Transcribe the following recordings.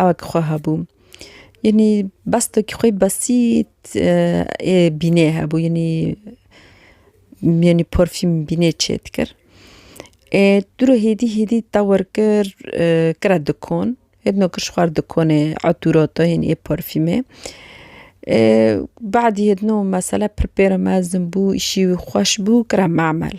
ewek xwe hebû yanî bestekî xwe besît ê bînê hebû yanî yanî porfîm bînê çê dikir ê tu re hêdî hêdî tewir kir kire dikon hêdino kir ji xwe re dikonê etûra te yanî ê porfîmê ê badî hêdino mesele pir pêre mezin bû îşî wî xweş bû kire mamel.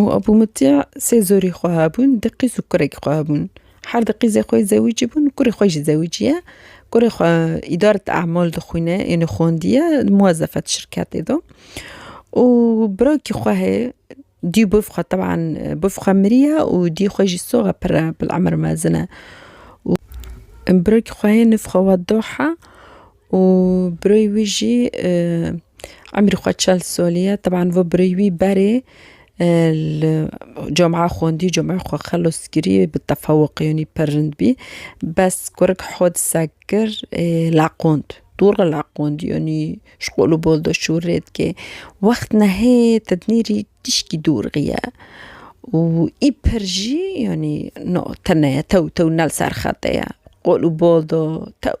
Û Ebû Mutî sê zorî xwe hebûn, du qîz û kurekî xwe hebûn. Her du qîzê xwe yê zewîcî bûn û kurê xwe jî zewîcî ye. Kurê xwe îdaret emal dixwîne yanî xwendiye di muwezefet şirketê de. Û birakî xwe heye dî û bavê xwe teban bavê xwe miriye û dî xwe jî sox e pir e bil emir mezin e. Û birakî xwe heye navê xwe Wedoh e. û birayê wî jî emrî xwe çel salî ye. Teban vê birayê wî berê li camia xwendî, camiya xwe xelas kirî bi tefewiqîyanî pir rind bî. Bes kurik hodisek kir laqand, dûr re laqand yanî ji qol û bal de şûr rê dike. Wext nehê tednîrî tişkî dorxî ye û î pir jî yanî na tune ye tew tew ne li ser xete ye qol û bal de tew.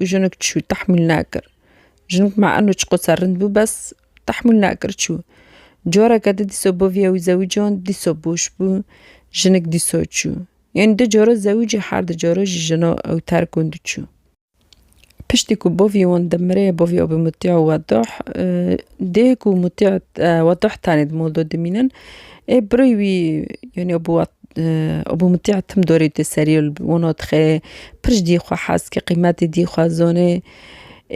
û jinik çû tehmûl nakir. Jinik ma eno çiqosa rind bû bes tehmûl nakir çû. Coreke di dîso bo viya wî zewîcan dîso boş bû jinik dîso çû. Yanî du caro zewîcî her du caro jî jina ew terk û di çû. Piştî ku bo vî wan di mire bo vî abî Mutîa û Wedah dê ku Mutîa Wedah tenê di mol do dimînin. Ê birî wî yanî Ebû Ebû Mutî tim dorî tê serî û li wan dixê pir ji dî xwe hez dike qîmetê dî xwe zonê.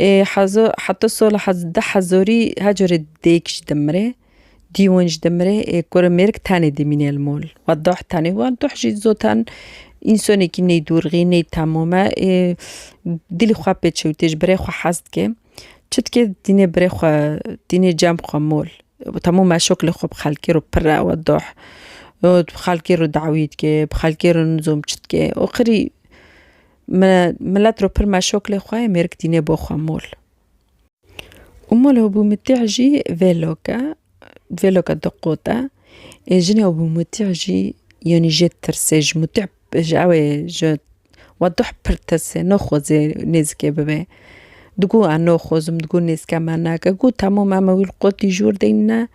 Ê hezo heta sola hez deh hezorî her carê dêk ji demirê dî wan ji demirê ê kurê mêrik tenê dimîne li mal xwe deh tenê wa deh jî zoten însanekî nêdûrxî nêtemame ê dilê xwe pê çewtê ji birê xwe hez dike. Çitkê dînê birê xwe, dînê cem xwe mol. Temû meşok li xwe bi xelkê re pir e we doh. Bi xelkê re dawî dike, bi xelkê re nizom çi dike. Û qirî me milet re pir meşok lê xwe ye mêrik dînê bo xwe mol. Û mol Ebû Mutîh jî vê lok e, vê lok e du qot e. Ê jinê Ebû Mutîh jî yanî jê tirsê ji Mutîh ji ew ê ji Wa duh pir tese, no xozê nêzikê bibe. Digû a no xozim, digû nêzika me nake. Gû temo me me wî li qotî jûr deyne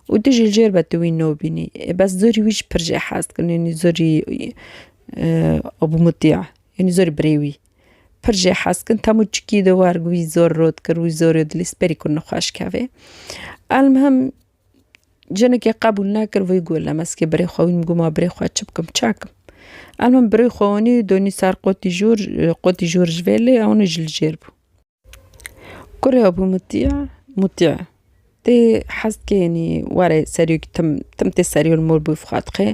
û tu jî li jêr ve tu wî no bînî. Ê bes zorî wî jî pir jê hez dikin yanî zorî Abu Mutîa yanî zorî birê wî. Pir jê hez dikin temo çikî de war wî zor rot kir, wî zorê dilîst berî kir nixweş kevê. Elmuhim Jinekê qebûl nekir vî got, Lemezkê birê xwe wî min got ma birê xwe çi bikim çi ekim. Em min birê xwe anî û donî ser qotî jor, qotî jor ji vê lê ewni ji li jêr bû. Kurê bû mitî ye, mûtî ye. Tê hez dike înî were serî wekî tim, tim tê serî wê li mor bûyî xwe dixê.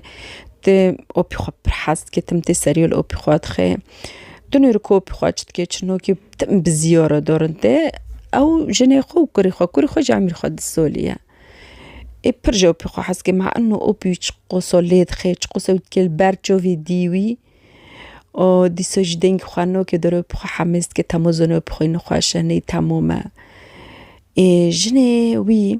Tê opî xwe pir hez dike, tim tê serî wê li opî xwe dixê. Dinêrî ku opî xwe çi dike çi nakê. Tim bi ziyora dorin tê. Ew jinê xwe û kurê xwe, kurê xwe jî emîr xwe disoliye. Ê pir ji opî xwe hez ke ma eno opî wî çiqoso lê dixê, çiqoso wî dikê li ber çavê dî wî û dîsa jî dengê xwe nake der û opî xwe hemêz dike, temozên opî xwe nê xweş e, nê temom e. Ê jinê wî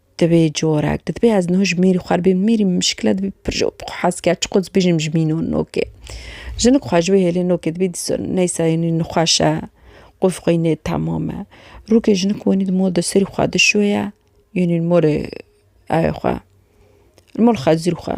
Di vê corek de dibê ez niho ji mêrî xwe re bêm mêrî min mişkile dibê pir ji xwe hez kerd çiqo dibêjim ji mîno nokê. Jinik xwe ji wê hêlê nokê dibê dîsor neysa yanî nixweş e qûf xwe yî nêtemam e. Rokê jinik wenî di mol de serî xwe dişoye yanî li molê ayê xwe li mol xezir xwe.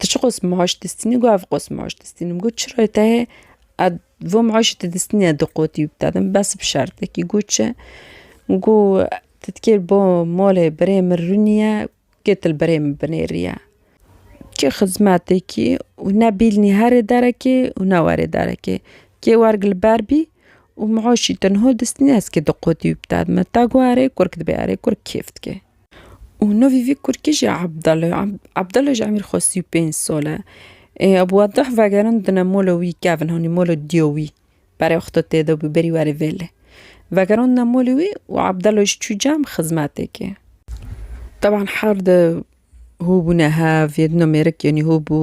Tu çi qas maaş distînî got ev qas maaş distînim min got çira tehê ed vê maaşê tu distînî ez diqotî wî bide din bes bi şertekî got çi min got tu dikê bo malê birê min rûnîye kê tu li birê min binêrîye kê xizmetekî û ne bîlnî herê derekê û ne werê derekê kê werg li ber bî û maaşî tu niha distînî ez kê diqotî wî bide dima te got erê kurk dibê erê kurk kêf dike. Û navê vî kurkê jî Ebdal e. Ebdal ji Emîr Xwestî û pênc sal e. Ebu Wedah vegerin dine mola wî kevin hanî mola diya wî. Berê wexta tê de bû berî werê vê lê. Vegerandine molê wî û Ebdal jî çû cem xizmetê kê. Teban her di hû bûne hev yê dina mêrik yanî hû bû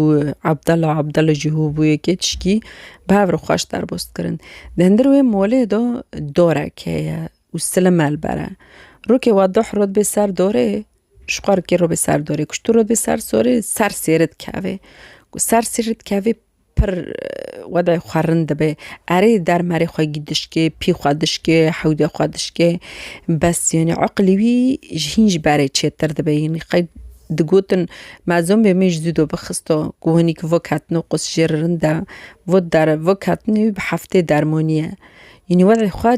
Ebdal a Ebdal jî hû bû yê kê tişkî bi hev re xweş derbas kirin. Di hundirê wê molê de darek heye. û silim me li ber e. Rokê wa doh rot bê ser dorê, ji xwe rikê rot bê ser dorê. Ku ji tu rot bê ser sorê, ser sêri dikevê. Ku ser sêri dikevê pir wedayê xwe rind dibe. Erê der merê xwe gî dişkê, pî xwe dişkê, hewdê xwe dişkê. Bes yanî eqilê wî ji hîn ji berê çêtir dibe. Yanî qey digotin me zombê min ji zûdo bixisto. Ku hinî ki vok hatino qûs jê re rind e. Vok der vok hatinê wî bi heftê dermanî ye. Yanî wedayê xwe.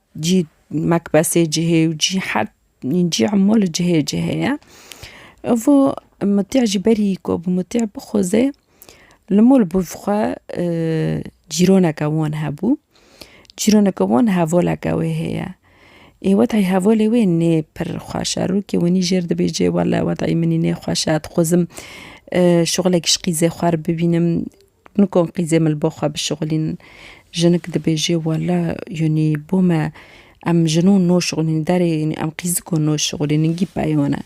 Cî mekbesê cihê û cî her cî hemû li cihê cihê ye. Evo mitiya ji berî ku bi mitiya bixuze li mol bi xwe cîroneke wan hebû. Cîroneke wan hevaleke wê heye. Ê weta hevalê wê nê pir xweş e. Rûkê winî jêr dibêje wele weta minî nêxweş e dixwazim şixulekî ji qîzê xwe re bibînim. Nikon qîzê min li bo xwe bişixulînin. Jinik dibêje wela yanî bo me em jinû noşixulînin derê yanî em qîziko noşixulînin gî peyone.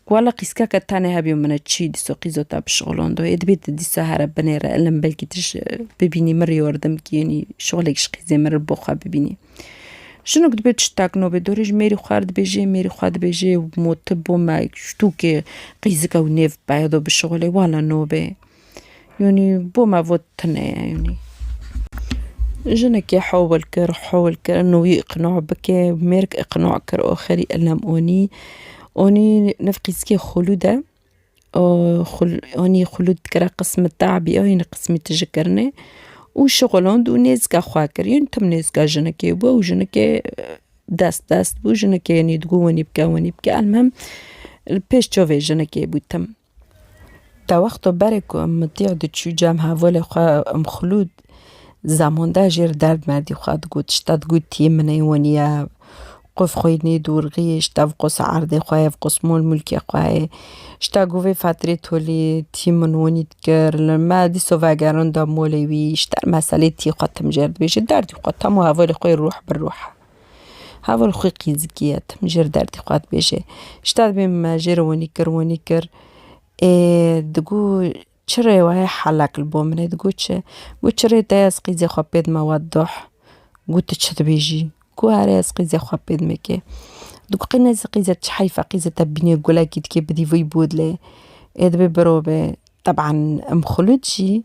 Wela qîzkeke tenê hebîyo min e çî dîsa qîzo te bişixulando ê dibê tu dîsa here binê re ilim belkî tu ji bibînî min rê yardim kî yanî şixulek ji qîzê min re li bo xwe bibînî. Jinik dibê tu ji tekno bê dorê ji mêrî xwe re dibêje mêrî xwe dibêje mo tu bo me ji tûkê qîzika wî nêv peydo bişixulê wela nobê. Yûnî bo me vo tune ye yûnî. Jinekê hewil kir hewil kir ino wî îqna bike mêrg îqna kir axirî elem anî anî niv qîskê xulûd e anî xulûd dikire qismi te'bî ye anî qismî tije kirine û şixulan dû nêzika xwe kir yûnî tim nêzika jinekê bû û jinekê dest dest bû jinekê anî digo wenî bike wenî bike elmim li pêş çavê jinekê bû tim. Di wexta berê ku em mitîg diçû cem hevalê xwe em Xlûd Zamanda jê re derd merdî xwe digot. Ji te digotiye min ê weniya qûf xwe yê nêdorgî, ji te bi qosa erdê xwe yê, bi qos malmûlkê xwe yê. Ji te got vê fetirê tolî tî min wenî dikir li me dîsa vegeranda malê wî. Ji te meselê tî xwe tim jê re dibêje derdî xwe tam û hevalê xwe yê ruh bi ruh e. Heval xwe qîzikî ye tim ji ir derdê xwe dibêje. Ji te dibê min me jê re winî kir winî kir ê digo çi rê were helek li bo min e digo çi got çi rê te ez qîzê xwe pê dime we doh got tu çi dibêjî got erê ez qîzê xwe pê dime kê digo qey nezî qîze çi heyfe qîzê te bîne gulekî dikê bidî vî bodlê ê dibê birove teban em xulûd jî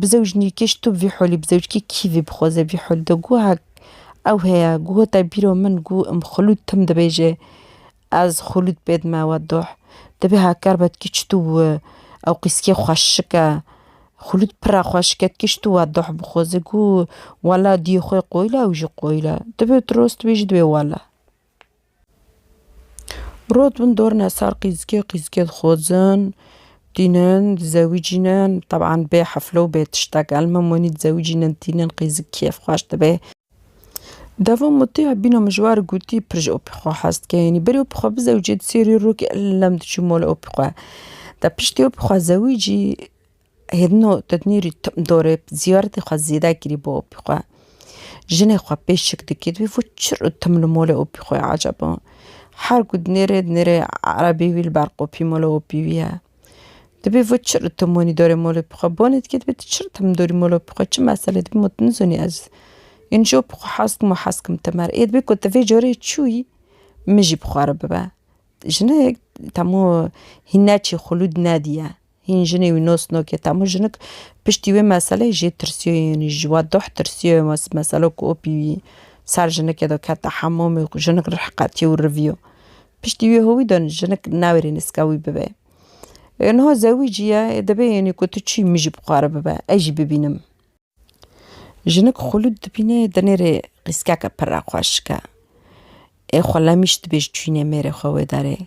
Bi zewcnîrkê ji tu vî holî bi zewcikê kî vê bixwaze vî hol de guhek ew heye guh te bîro min guh im xulûd tim dibêje ez xulûd pê dime we doh dibê haker be ti çi tu wi ew qîskê xweşik e xulûd pira xweşik e ti çi tu we doh bixwaze guh wela diyê xwe qoyile ew jî qoyile dibê tu rost bêjî dibê wela. Rot bin dorine sar qîzgê qîzgê dixwazin tînin dizewicînin teban bê hefle û bê tiştek el min wenî dizewicînin tînin qîzik kêf xweş dibe devo mûtê bîno min ji wan re gotî pir ji opî xwe hez dike yanî berê opî xwe bizewicê di sêrî rokê lem diçû mala opî xwe de piştî opî xwe zewicî Hêdino Tednîrî tim dorê ziyaretê xwe zêde kirî bo opî xwe. Jinê xwe pê şik dikê di wî vo çir û tim li mole opî xwe ye eceb o. Her ku dinêrê dinêrê erebî wî li ber qopî mole opî wî ye. Di bê vo çir û tim wenî dorê mole opî xwe. Bonê dikê dibê tu çir tim dorî mole opî xwe çi meselê dibê ma tu nizanî ez ên ji opî xwe hez dikim û hez dikim te mer. Ê dibê ku tu vê carê çûyî min jî bi xwe re bibe. Jinê temû hîn neçî xulûd nedîye. Hîn jinê wî nos nokê te hemû jinik piştî wê meseleyê jê tirsiyoyê yanî ji we doh tirsiyoyê wê meselo ku opî wî ser jinikê de kete hemûmê ku jinik rih qetiyo û riviyo piştî wê howî de jinik nawêrê nîska wî bibe niha zewî jî ye dibê yanî ku tu çî min jî bixware bibe ez jî bibînim. Jinik xulûd dibîne dinêrê qîskeke pirre xwe şike. Ê xwe lemîş dibêj çûyînê mêrê xwe wê derê.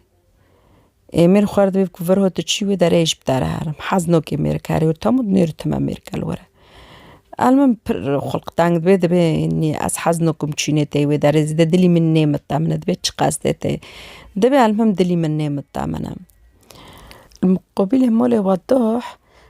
Ê mêr xwe re dibêj ku vir hot tu çî wê derê êj bi te re herim. Hez nokê mêr kerê û tam û dinêr û time mêr kel were. El min pir xulq teng dibê dibê nî ez hez nokim çûyînê tê wê derê zêde dilî min nêmite min e dibê çi qesdê tê. Dibê el min dilî min nêmite min e. Li muqabilê malê we doh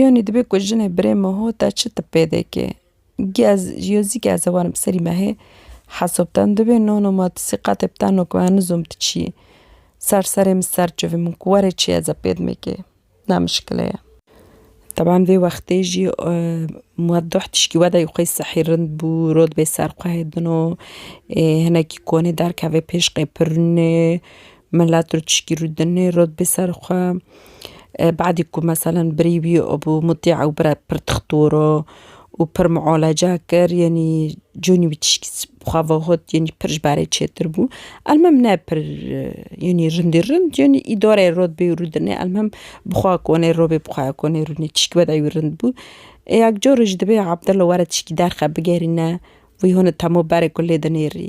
Yanî dibe ku jinê birê me ho te çi tip pê dike? Giya yo zî ke ez ê werim serî me hê hesab ten dibê no no ma tu sîqetê bi ten no ku me nizom tu çi yî. Ser serê min ser çivî min ku were çi ye ez ê pê dimê kê ne mişkile ye. Teban vê wextê jî mueddah tişkî wedayî xwe yî sehî rind bû rû dibê ser xwe hê dino ê hinekî konê derkeve pêşqê pir rûnê Milet rû tişkî rû dinê rot bê ser xwe. Badî ku meselen birî wî bû mutî ew bire pir dixtor o û pir miolaca kir yanî cûnî wî tişkî xwe vegot yanî pir ji berê çêtir bû. Elmim ne pir yanî rindî rind yanî îdareyê rot bê rû dinê elmim bi xwe konê rû bê bi xwe konê rû nê tişkî wede wî rind bû. Yek carê jî dibê Abdullah were tişkî derxe bigerîne wî hûn temo berê ku lê dinêrî.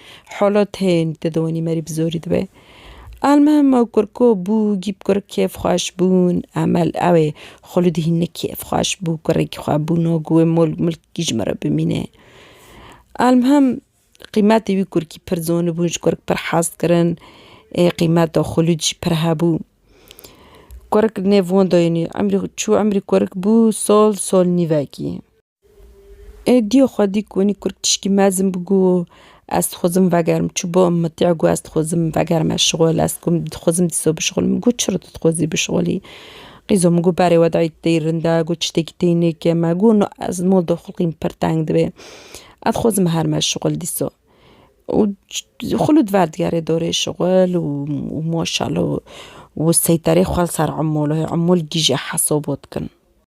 Holot hên te diwenî merî bi zorî dibe. Elmihim ew kurko bû, gîp kurik kêfxweş bûn. Emel ew ê Xuludî hinek kêfxweş bû, kurekî xwe bû no ku wê mol milkî ji min re bimîne. Elmihim qîmetê wî kurkî pir zonibûn, ji kurik pir hez dikirin. Ê qîmeta Xulud jî pir hebû. Kurik nêv wenda yenî emrî çû emrî kurik bû sol sol nîvekî. Ê dîyo xwedî ku wenî kurd tişkî mezin bi ku ez dixwazim vegerim çi bo min tîya ku ez dixwazim vegerime şixwal ez ku dixwazim dîsa bişixwal min got çira tu dixwazî bişixwalî qîzo min got berê we dayî tê rind e got çitêkî tê nêke me got no ez li mal de xelkî min pir teng dibê ez dixwazim herime şixwal dîsa û xwilo di ver digerê dorê şixwal û maşallah û seyterê xwe li ser emûl e emûl gîje hesaba dikin.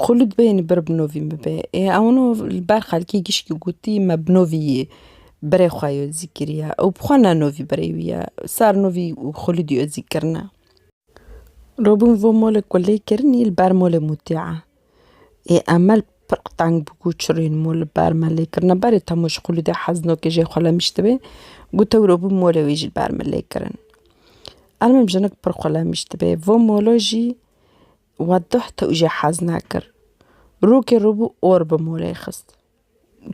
Xwe li bê li bir binovîn bibe. Ê ewno li ber xelkê gişkî gotî me binovî yê berê xwe yê ozî kiriye. Ew bi xwe ne novî berê wî ye. Sar novî xwelî dî ozî kirine. Robin vo molê ku lê kirinî li ber molê mûtî ye. Ê Emel pir qiteng bû ku çirrîn mol li ber me lê kirine. Berê temo ji xwelî dê hez no ke jê xwe lemiş dibe. Got ew robin molê wê jî li ber me lê kirin. Ermim jinik pir xwe lemiş dibe. Vo molo jî. Wa duh tu jî hez nekir. Rokê rû bû or bi molê xist.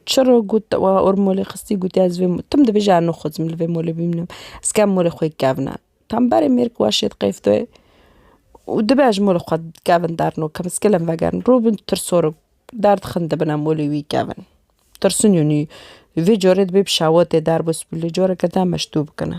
Çi rok got te wa or bi molê xistî gotiye ez vê tu min dibêje ez nixwazim min li vê molê bimînim. Ez kem molê xwe kevne. Tembelê mêrk wa şêt qeyftoyê û dibe ez ji molê xwe kevin derno kem ez kilem vegerin. Rû bin tirsorok derdixin dibine molê wî kevin. Tirsinûnî vê carê dibê bi şewatê derbûs bi lê careke din em ji dû bikine.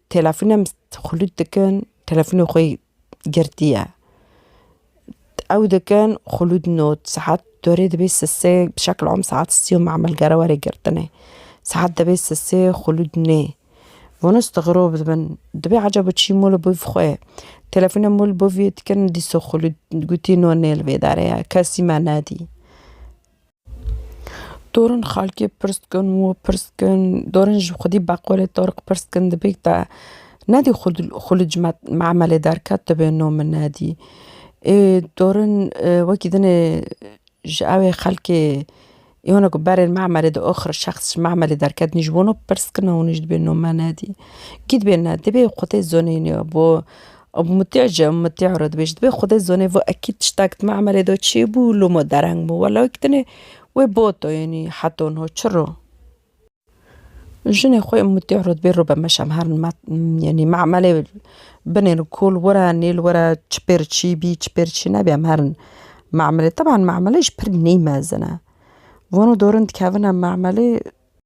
Telefûnem xulût dikin, telefûnê xwe girtiye. Ew dikin xulût not, saet dorê dibê sisê bi şekl am saet sî û mamelgere were girtinê. Saet dibê sisê xulût nê. Wan istigrob dibin, dibê ecaba çî ma li bo vî xwe ye. Telefûna ma li bo vî ye dikin dîsa xulût gotî no nê li vê derê ye, kesî me nedî. Dorên xalkê pirs dikin û pirs dikin, dorên ji xwedî beqolê Torik pirs dikin di bêk de nedî xwe li xwe li cime memelê derket dibê no min nedî. Ê dorên wekî din ê ji ewê xelkê ê wan ku berên memelê di oxir şexs ji memelê derket nî ji bo no pirs dikin û nî ji dibê no me nedî. Kî dibê ne dibê xwedê zoneyne bo Û mutîa jî em mutîa re dibêjin. Dibê xwedê zonê vî ekîd tiştek dima emelê de çê bû û loma dereng bû. Wela wek dinê wê boto yenî heto no çi ro. Jinê xwe em mutîa re dibê robe meşem her yenî me emelê binê li kol were nê li were çi pêr çî bî çi pêr çî nebî em herin me emelê. Teban me emelê jî pir nêmezin e. Vano dorin dikevin em me emelê.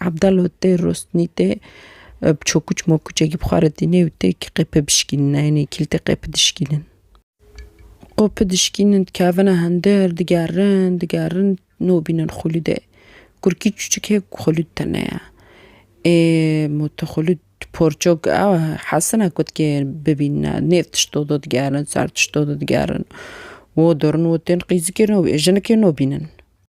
Abdal û tê rostnî tê bi çokuç mokuçekî bi xwe re tînê û tê kî qê pê bişkînin eynê kîl tê qê pi dişkînin. Qo pi dişkînin dikevine hindir digerin digerin no bînin xulûdê. Kurkî çûçik hê ku xulûd tene ye. Ê mo tu xulûd porçok ew e hesine ku dikê bibînine nêv tişto de digerin ser tişto de digerin wo dorin wo tên qîzikê no jinikê no bînin.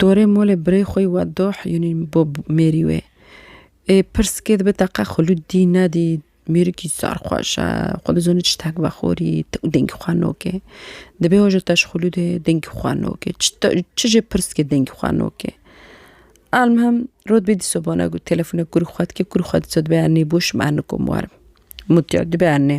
Dorê molê birê xwe yî we doh yûnî bo mêrî wê. Ê pirs kê dibe te qe xulûd dî nedî mêrikî zar xweş e, xwe dizanî çi tekvexorî û dengî xwe nokê. Dibê ho ji te ji xulûdê dengî xwe nokê. Çi jê pirs kê dengî xwe nokê. Elmuhim rot bê dîsa bana got telefonê kurê xwe dikê kurê xwe dîsa dibe ernê boş min ernê kom werim. Mûtiya dibe ernê.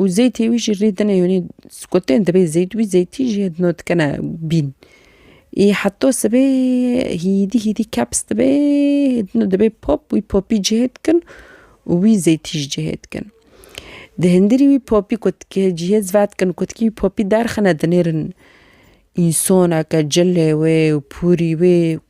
û zêtê wî jî rê dine yanî kotên dibê zêt wî zêtî jî no dikene bîn ê heta sibê hîdî hîdî keps dibe no dibe pop wî popî cihê dikin û wî zêtî jî cihê dikin di hundirî wî popî ku dike cihê ziva dikin ku dikî wî popî derxine dinêrin însoneke cilê wê û pûrî wê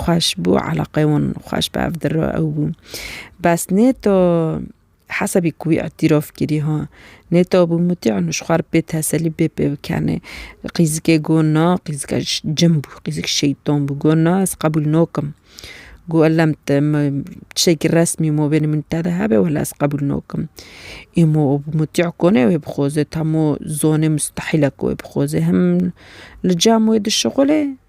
xweş bû, eleqeyê wan xweş bi ev dir re ew bû. Bes nê to hesabî ku wî îtîrof kirî ha, nê to bû mutî û ji xwe re bê teselî bê pê bikenê. Qîzikê got na, qîzika cin bû, qîzik şeytan bû, got na ez qebûl nakim. Got ellem te me tiştekî resmî mobêlê min te de hebe wela ez qebûl nakim. Îmo mutî konê wê bixoze, hemû zonê mistehîl e ku wê bixoze. Him li cem wê dişixulê.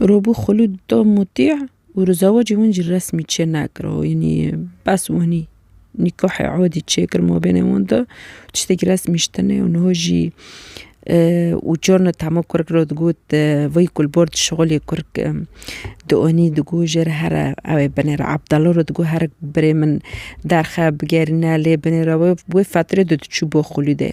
Robû Xulûd da mutî û li zewacê wan jî resmî çê nekir. Yanî bes wanî nîkahê adî çêkir mabênê wan de tiştekî resmî ji tenê û niha jî û carna tema kurek re digot vay ku li bar dişixulê kurk di anî digo jê re here ew ê binêre Ebdala re digo here birê min derxe bigerîne lê binêre wê wê fetirê de diçû bo Xulûdê.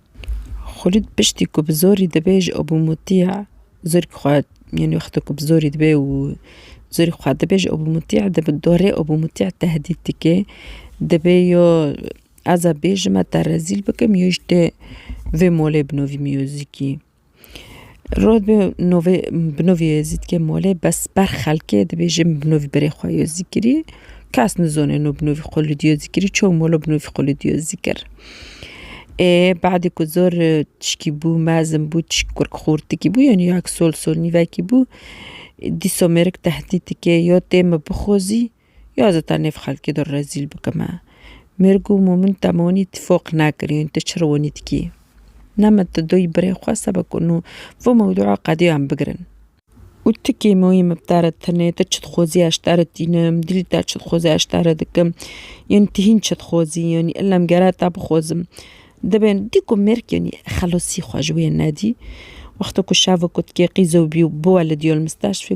Xulîd piştî ku bi zorî dibe ji Abûmûtîya zorî xwe yanî wexta ku bi zorî dibe û zorî xwe dibe ji Abûmûtîya di bi dorê Abûmûtîya tehdît dike. Dibe yo ez a bêjime te rezîl bikim yo ji te vê molê binovî miyozîkî. Rod bi novê bi novê Yêzîd ke mole bes ber xelkê dibêjin bi novî berê xwe Yêzî kirî kes nizone no bi novî xwe li Yêzî kirî çawa molo bi novî xwe li Yêzî kir. Ê badê ku zor tişkî bû mezin bû tişk kurk xûrtikî bû yanî yak sol sol nîvekî bû dîsa mêrik tehdît dike ya tê min bixwazî. Ya ez ta nêv xelkê de rezîl bikime. Mêrg û Mûmin te min wî tîfoq nekirîn, tu çi riwinî dikî? Ne min tu doyî birê xwe sebe ku nû vî mewdûa qediyan bigirin. Û tu kê min wî miftere tenê, tu çi dixwazî ez ji te re tînim, dîlî te çi dixwaze ez ji te re dikim. Yanî tu hîn çi dixwazî, yanî illa min gere te bixwazim. Dibên dî ku mêrg yanî xelasî xwe ji wê nedî. Wexta ku şeva ku dikê qîzo bî û biwelidîyo li mistashfê.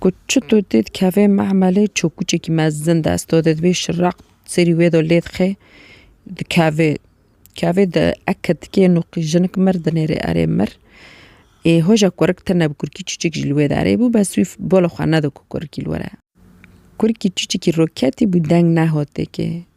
Ku çito dê dikeve mehmelê çokûçekî mezin dest do dê dibê şireq serî wê do lê dixe dikeve keve di eke dikê nuqî jinik mir dinêrê erê mir ê hoja kurik tune bi kurkî çûçek jî li wê derê bû bes wî bo li xwe nedo ku kurikî li were kurikî çûçekî roketî bû deng nehotê kê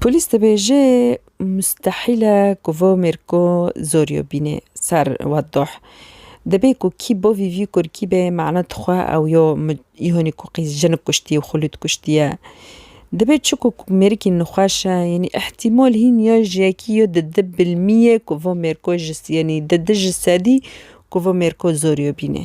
Polîs dibêje mustehîl e ku vê mêrko zoriyo bîne ser Wedoh. Dibê ku kî bo vî vî kurkî be mane dixwe ew yo îhonî ku qîz jinik kuştiye û xulût kuştiye. Dibê çiku ku mêrikî nixweş e yanî îhtîmal hîn ya ji yekî ya di di bilmîye ku vê mêrko ji yanî di di ji sedî ku vê mêrko zoriyo bîne.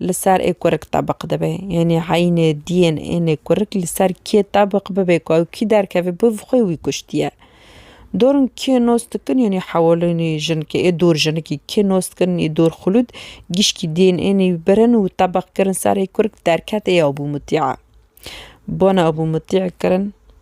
li ser ê kurik tebiq dibe. Yanî eynê diyên ênê kurik li ser kê tebiq bibe ku ew kî derkeve bi xwe wî kuştiye. Dorn kê nos dikin yanî hewalênî jinikê ê dor jinikî kê nos dikin ê dor xulûd gişkî diyên ênê wî birin û tebiq kirin serê kurik derkete ya Ebû Mutî'a. Bona Ebû Mutî'a kirin.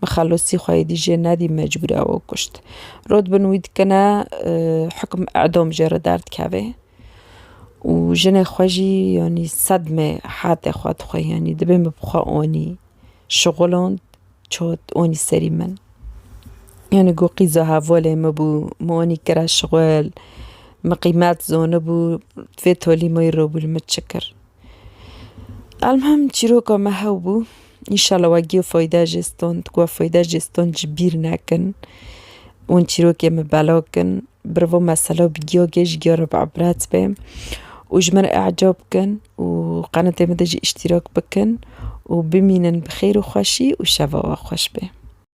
Bi xelosî xwe yê dijê nedî mecbûr e we kuşt. Rod bin wî dikine hukm edom jê re derdikeve û jinê xwe jî yanî sedme hate xwe dixwe yanî dibê min bi xwe anî şixulond çot anî serî min. Yanî ku qîza hevalê min bû min anî kire şixul min qîmet zanibû vê tolî min wî robû li min çi kir. Elmhim çîroka me hew bû înşala we giya feyda jê stand ku we feyda jê stand ji bîr nekin û çîrokên me belav bikin bi riva mesela bi giya ke ji giya re bibret be û ji min re ecab bikin û qenetê min de jî îştîrak bikin û bimînin bi xêr û xweşî û şeva we xweş be.